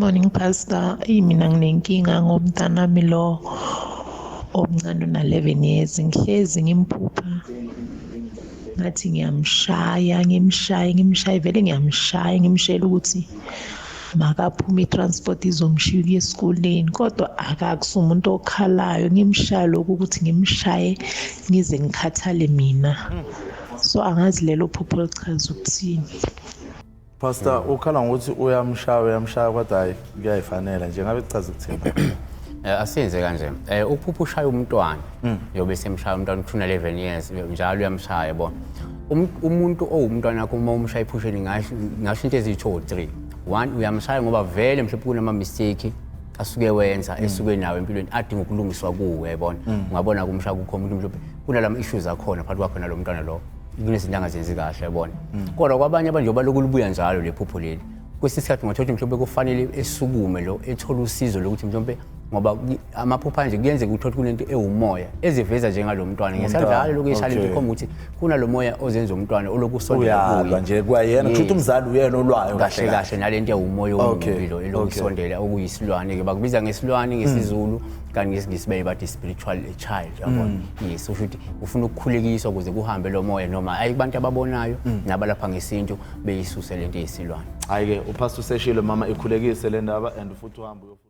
Morning pastor, eyi mina nginenkinga ngomntanami lo omncane una-11 years ngihlezi ngimphupha ngathi ngiyamshaya ngimshaye ngimshaye vele ngiyamshaya ngimshayela ukuthi makaphuma i-transport izomshiya ukuya esikoleni kodwa akakusi umuntu okhalayo ngimshaye lokhu ukuthi ngimshaye ngize ngikhathale mina so angazi lelo phupho lichaza ukuthini Pastor hmm. ukhala ngokuthi uyamshaya uyamshaya kodwa hayi kuyayifanela nje ngabe kuchaza ukuthini? Eh, asenze kanje eh ukuphupha ushaya umntwana hmm. yobe semshaya umntwana uthuna 11 years njalo uyamshaya yabo um, umuntu owumntwana wakho uma umshaya iphusheni ngasho ngasho into eziyi 2 or 3 one uyamshaya ngoba vele mhlawumbe kunama mistake asuke wenza hmm. esuke nawo empilweni adinga ukulungiswa kuwe yabona ungabona kumshaya kukho umuntu mhlawumbe kunalama issues akhona phakathi kwakho nalomntwana lo kunezinto angazenzi kahle yabona mm. kodwa kwabanye abanje baloku libuya njalo lephupho leli kwesinye isikhathi ungathola ukuthi mhlawumbe kufanele esukume lo ethole usizo lokuthi mhlawumbe ngoba amaphupha anje kuyenzeka ukuthi kunento ewumoya eziveza njengalo mntwana ngesadlalo lokhu eshale nje khomba ukuthi kunalo moya ozenza umntwana olokusondela kuye nje kwayena kusho ukuthi umzali uyena olwayo kahle kahle nalento ewumoya omubi lo elokusondela okuyisilwane ke bakubiza ngesilwane ngesizulu kanti ngesingisi beye bathi spiritual child yabona mm. yes usho ukuthi ufuna ukukhulekiswa ukuze kuhambe lo moya noma hayi kubantu ababonayo mm. nabalapha ngesintu beyisuse lento yesilwane hayi ke upastor useshilo mama ikhulekise le ndaba and futhi uhamba